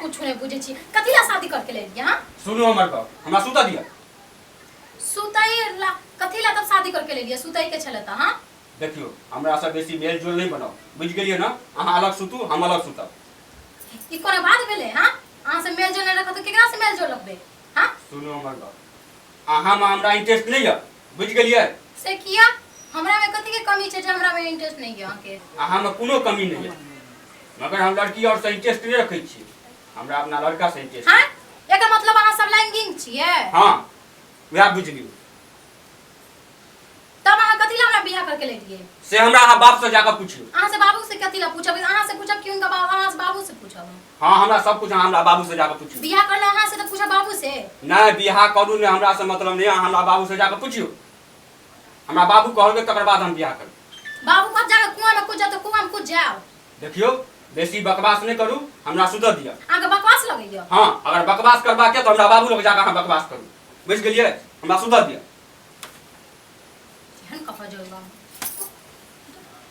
कुछ नहीं बुझे छी कथी ला शादी करके ले लिया हाँ? सुनो हमर बाप हमरा सुता दिया सुतई ला कथी ला तब शादी करके ले लिया सुतई के छले ता हां देखियो हमरा से बेसी मेल जोल नहीं बनाओ बुझ गेलियो ना अहाँ अलग सुतू हम अलग सुतब ई कोना बात भेले हां अहाँ से मेल जोल नहीं रखत केकरा से मेल जोल रखबे हां सुनो हमर बाप अहाँ में हमरा इंटरेस्ट नहीं है बुझ गलिए से किया हमरा में कथि के कमी छे जे हमरा में इंटरेस्ट नहीं है अहाँके आ हम कोनो कमी नहीं है मगर हम लड़की और से इंटरेस्ट नहीं रखे छी हमरा अपना लड़का से इंटरेस्ट हां एकर मतलब अहाँ सब लैंगिंग छिए हां वह बुझ लियो तब अहाँ कथि ला हमरा बियाह करके ले दिए से हमरा अहाँ बाप से जाकर पूछियो अहाँ से बाबू से कथि ला पूछब अहाँ से पूछब कि उनका बाबू अहाँ से बाबू से पूछब हाँ हमरा सब कुछ अहाँ हमरा बाबू से जाकर पूछू बियाह करना अहाँ से तो पूछा बाबू से नहीं बियाह करू ने हमरा से मतलब नहीं अहाँ हमरा बाबू से जाकर पूछियो हमरा बाबू कहलके तकर बाद हम बियाह करब बाबू कब जाकर कुआं में कूद जाओ तो कुआं में कूद जाओ देखियो बेसी बकवास नहीं करू हमरा सुधर दिया अहाँ के बकवास लगैया हाँ अगर बकवास करबा के तो हमरा बाबू लग जाकर अहाँ बकवास करू बुझ गेलिए हमरा सुधर दिया एहन कपड़ा जोड़बा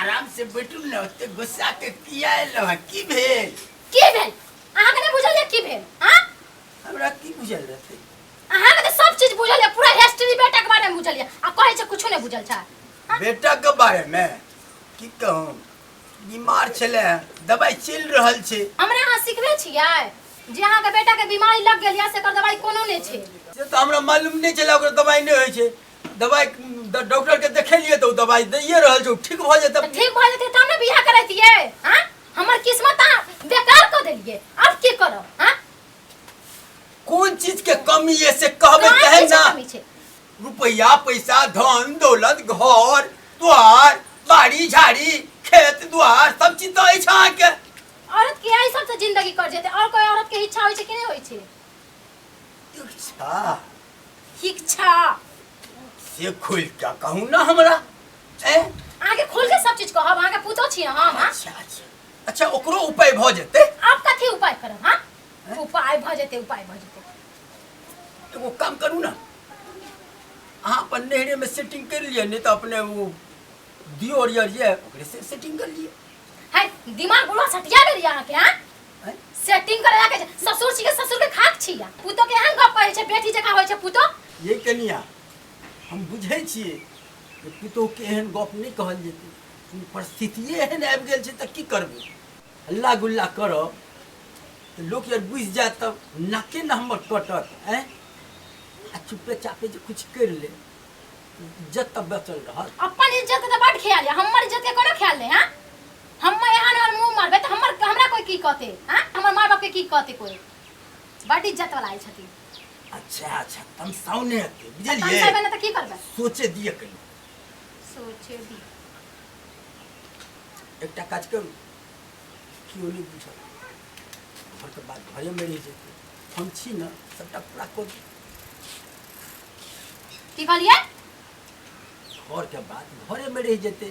आराम से बैठू ने ओते गुस्सा के किया एलो है की भेल की भेल अहाँ के नहीं बुझल है की भेल हाँ हमरा की बुझल रहते अहाँ के तो सब चीज बुझल है पूरा हिस्ट्री बेटा के बारे में बुझल है आ कहे छे कुछो नहीं बुझल छा बेटा के बारे में की कहूँ बीमार छले हैं, दवाई चल रहल छे हमरा अहाँ सिखबे छियै जे अहाँ के बेटा के बीमारी लग गेल या से कर दवाई कोनो नहीं छे से तो हमरा मालूम नहीं चला ओकर दवाई नहीं होय छे दवाई ड- डॉक्टर के देखेलिए तो उ दवाई दैए रहल छै उ ठीक भ जेतै तऽ ठीक भऽ जेतै तब ने बियाह करैतियै हाँ हमर किस्मत अहाँ बेकार कऽ देलियै आब की करब हाँ कोन चीज के कमी है से कहबे कहाँ तहन की ना कमी छै रुपया पैसा धन दौलत घर द्वार बाड़ी झाड़ी खेत द्वार सब चीज तो अछि अहाँके औरत के यही सबसँ जिंदगी कट जेतै और कोई औरत के इच्छा होइ छै कि नहि होइ छै शिक्षा शिक्षा से खोल के कहू ना हमरा ए अहाँ के खोल के सब चीज कहब अहाँ के पूछो छी हम हाँ? अच्छा अच्छा अच्छा ओकरो उपाय भ जेते आप कथी उपाय करब हाँ हैं? उपाय भ जेते उपाय भ जेते एगो काम करू ना अहाँ अपन नहरे में सेटिंग कर लिए नहीं तो अपने वो दियो और ये ओकरे से सेटिंग कर लिए है दिमाग बुढ़वा सटिया गेल अहाँ के हाँ सेटिंग करे लागे छै ससुर छी के ससुर के खाक छी या पुतो के एहन गप कहै छै बेटी जकाँ होइ छै पुतो ये कनिया हम बुझै छियै जे पुतोहके एहन गप नहि कहल जेतै लेकिन परिस्थितिए एहन आबि गेल छै तऽ की करबै हल्ला गुल्ला करब तऽ लोक यार बुझि जायत तब नाके ने हमर कटत आँय आ चुपे चापे जे किछु करि ले इज्जत तऽ बचल रहत अपन इज्जत के तऽ बड ख्याल है हमर इज्जत के कोनो ख्याल नहीं है हम मैं यहाँ और मुंह मारबे तो हमर हमरा कोई की कहते हां हमर मां बाप के की कहते कोई बड़ी इज्जत वाला आइल छथि अच्छा अच्छा तम साउने हते तन बुझलिए करबे ना तो की करबे सोचे दिए कहीं सोचे दी एकटा काज करू केओ नहि बुझल घरके बात घरेमे रहि जेतै हम छी ने सभटा पूरा कऽ देब। की कहलिए घरके बात घरेमे रहि जेतै